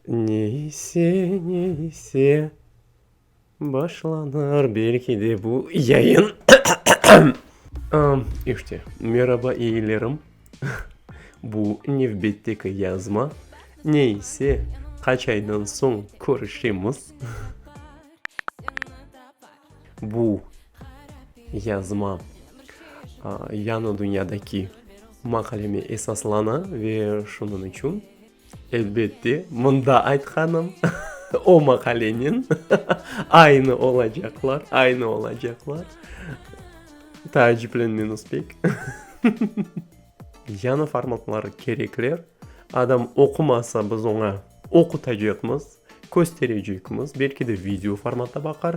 Ne ise, ne ise, başlanır belki de bu yayın. İşte, meraba eyilerim. Bu nevbetteki yazma. Ne ise, qaç aydan soñ körüşemiz. Bu yazma Yañı dünyadaki maqaleme esaslana ve şunıñ içün. Elbette, mında aytqanım o maqalenen aynı olacaqlar, aynı olacaqlar. Taaciplenmeñiz pek. Yañı formatları kerekler. Adam oqumasa, biz oña oqutacaqmız, kösterecekmiz, belki de video formatta baqar.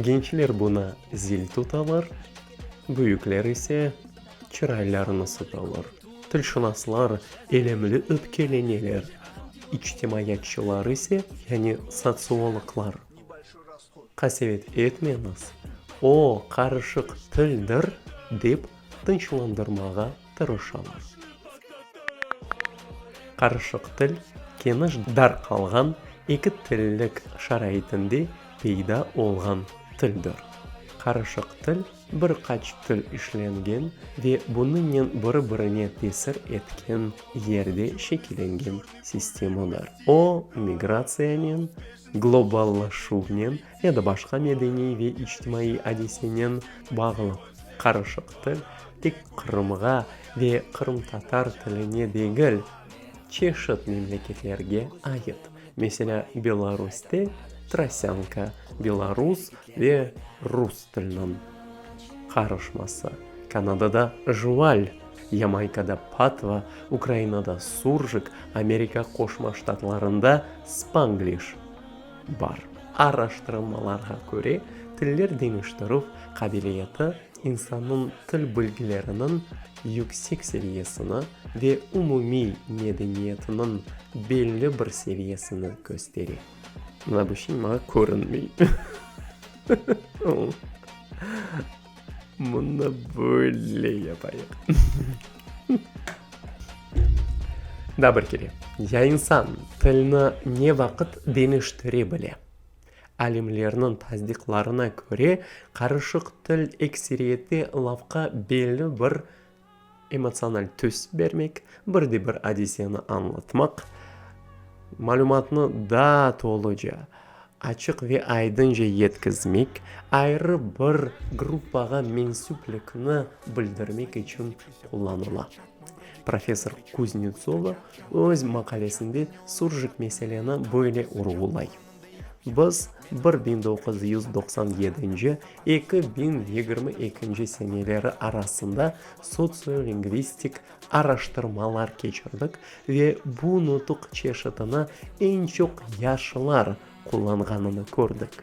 Gençler buna zil tutalar, büyükler ise çıraylarını sıtalar. Tilşınaslar elemli öpkeleneler, içtimaiyatçılar ise, yani sotsiologlar, Qasevet etmeñiz, o, qarışıq tildir, dep tınçlandırmağa tırış ola. Qarışıq til, keniş dar qalğan eki tillik şaraitinde peyda olğan tildir. Qarışıq til, bir qaç til işlengen ve bunıñnen biri-birine tesir etken yerde şekilengen sistemadır. O, migratsiyanen, globallaşuvnen ya da başqa medeniy ve içtimaiy adisenen bağlı qarışıq til tek Qırımğa ve qırımtatar tiline degil, çeşit memleketlerge ait, meselâ, Belarusde trosânka, belarus ve rus tiliniñ qarışması, Kanadada jval, Yamaykada patva, Ukrainada suržik, Amerika Qoşma Ştatlarında spangliş. bar. Araştırılmalarğa köre, tiller deñiştirüv qabiliyeti insannıñ til bilgileriniñ yüksek seviyesini ve umumiy medeniyetiniñ belli bir seviyesini köstere. Mına bu şey maña körünmey. Bunı böyle yapayıq. Daa bir kere. Ya insan tilni ne vaqıt deñiştire bile? Alimlerniñ tasdiqlarına köre, qarışıq til ekseriyeti lafqa belli bir Emotsional tüs bermek, bir de bir adiseni añlatmaq, malümatnı daa toluca, açıq ve aydınca yetkizmek, ayrı bir gruppağa mensüplikni bildirmek içün qullanıla. Professor Kuznetsova öz maqalesinde Surjik meseleni böyle urğulay. Biz bir biñ doquz yüz doqsan yedinci, eki biñ yigirmi ekinci seneleri arasında sotsiolingvistik araştırmalar keçirdik ve bu nutuq çeşitini eñ çoq yaşlılar qullanğanını kördik.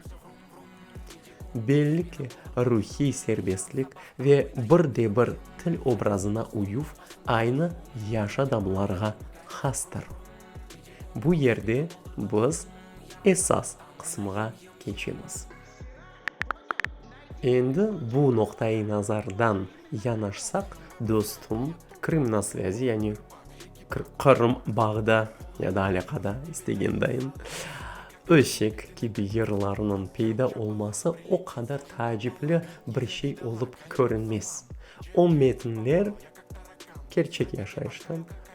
Belli ki, ruhiy serbestlik ve bir de bir til obrazına uyuv aynı yaş adamlarğa hastır. Bu yerde biz esas qısımğa keçemiz. Endi bu noqta-i nazardan yanaşsaq, dostum, Krım na svâzi, yani Qırım bağda ya da alâqada, istegen dayın, öşek kibi yırlarnıñ peyda olması o qadar taacipli bir şey olıp körünmez. O metinler kerçek yaşayıştan,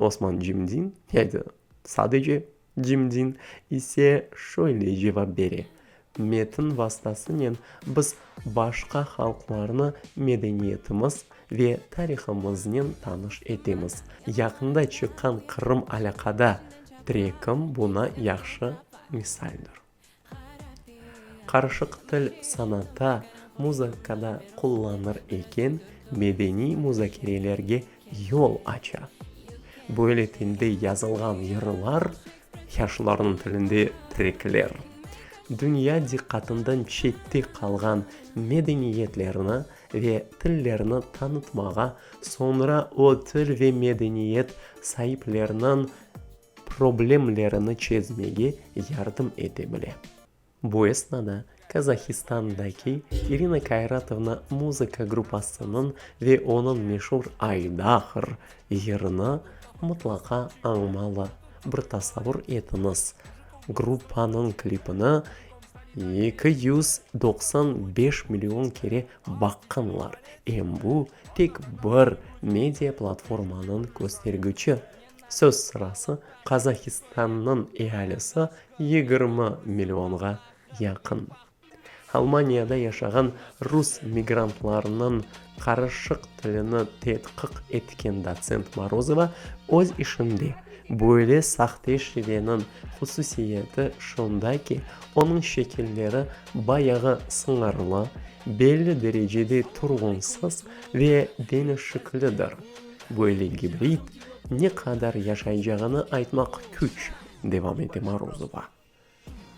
Osman Cimdin, ya da sadece Cimdin, ise şöyle cevap bere, Metin vastasınen biz başqa halqlarnı medeniyetimiz ve tarihımıznen tanış etemiz. Yaqında çıqqan Qırım alâqada trekim buna yahşı misaldır. Qarışıq til sanata, muzıkada qullanır eken, medeniy muzakerelerge yol aça. Böyle tilde yazılğan yırlar, yaşlılarnıñ tilinde trekler, dünya diqqatından çette qalğan medeniyetlerni ve tillerni tanıtmağa, soñra o til ve medeniyet saipleriniñ, problemlerini çezmege yardım ete bile. Bu esnada Kazahistandaki İrina Kairatovna muzıka gruppasınıñ ve onıñ meşur Aydahr yırını mutlaqa añmalı, bir tasavvur etiñiz, gruppanıñ klipini eki yüz doqsan beş million kere baqqanlar, em bu, tek bir media platformanıñ köstergüçi. Söz sırası Qazahistannıñ ealisi yigirmi millionğa yaqın. Almaniyada yaşağan rus migrantlarınıñ qarışıq tilini tedqiq etken dotsent Morozova öz işinde, Böyle sahte şiveniñ hususiyeti şunda ki, onıñ şekilleri bayağı sıñırlı, belli derecede turğunsız ve deñişiklidir. Böyle gibrid ne qadar yaşaycağını aytmaq küç, devam ete Morozova.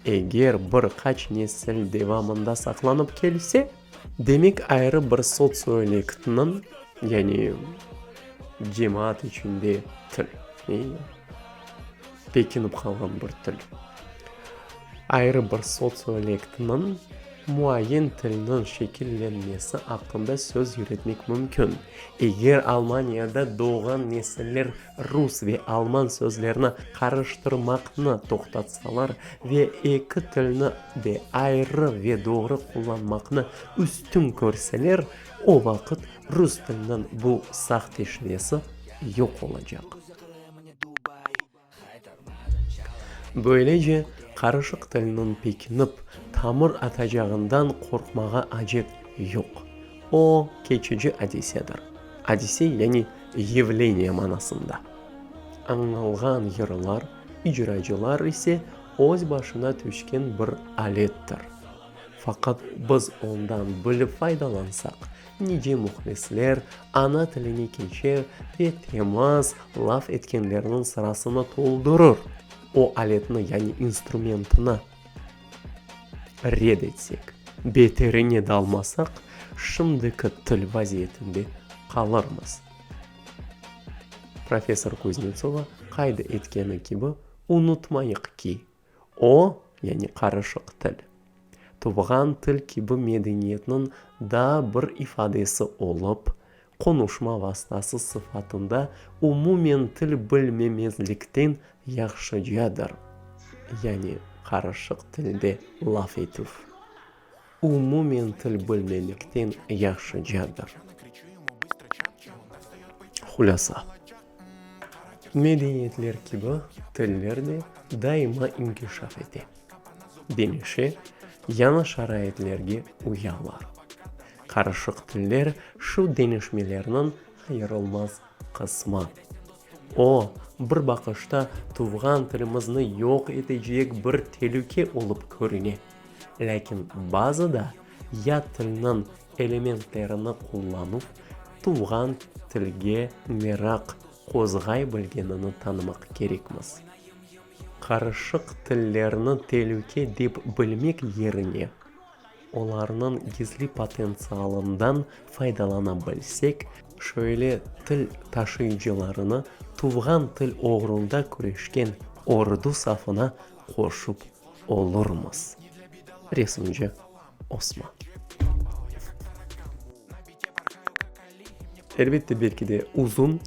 Eger bir qaç nesil devamında saqlanıp kelse, demek ayrı bir sotsiolektniñ, yani cemaat içinde til, Bekinip qalğan bir til. Ayrı bir sotsiolektiñiñ muayyen tilniñ şekillenmesi aqqında söz yüretmek mümkün. Eger Almaniyada doğğan nesiller rus ve alman sözlerini qarıştırmaqnı toqtatsalar ve eki tilni de ayrı ve doğru qullanmaqnı üstün körseler, o vaqıt rus tiliniñ bu sahteşinesi yoq olacaq. Böylece, qarışıq tilniñ pekinip, tamır atacağından qorqmağa acet yoq. O, keçici adisedir. Adise, yani yevleniye manasında. Añnılğan yırlar, icracılar ise öz başına tüşken bir alettir. Faqat biz ondan bilip faydalansaq, Nice mühlisler ana tiline keçe ve temaz laf etkenlerniñ sırasını toldurır, o aletni, yani instrumentni red etsek, beterine dalmasaq, şimdiki til vaziyetinde qalırmız. Professor Kuznetsova qayd etkeni kibi, unutmayıq ki, O, yani qarışıq til, tuvğan til kibi medeniyetniñ daa bir ifadesi olıp, qonuşma vastası sıfatında umumen til bilmemezlikten yahşıcadır, yani qarışıq tilde laf etüv. umumen til bilmemekten yahşıcadır. Hulâsa, medeniyetler kibi, tiller de daima inkişaf ete, demişe, yañı şaraitlerge uyalar. Qarışıq tiller şu deñişmelerniñ ayırılmaz qısmı. O, bir baqışta tuvğan tilimizni yoq etecek bir telüke olıp körüne. Lâkin bazı da yat tilniñ elementlerini qullanuv tuvğan tilge meraq qozğay bilgenini tanımaq kerekmiz. Qarışıq tillerni telüke dep bilmek yerine, olarnıñ gizli potentsialından faydalana bilsek, şöyle til taşıyıcılarını tuvğan til oğrunda küreşken ordu safına qoşup olurmız. Resimci, Osman. Elbette, belki de uzun,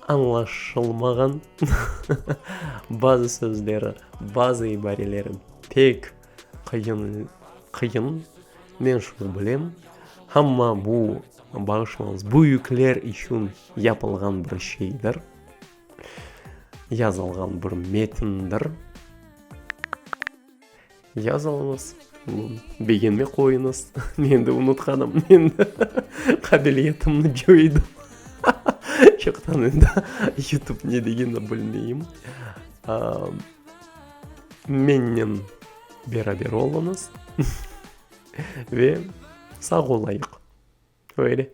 añlaşılmağan bazı sözleri, bazı ibarelerim pek Qıyın, qıyın, men şunı bilem, amma bu, bağışlañız, büyükler içün yapılğan bir şeydir, yazılğan bir metindir. Yazıñız, begenme qoyuñız, men de unutqanım, men de qabiliyetimni coydım, çoqtan endi yutub ne degenini bilmeyim. Mennen beraber oluñız ve sağ olayıq. Öyle.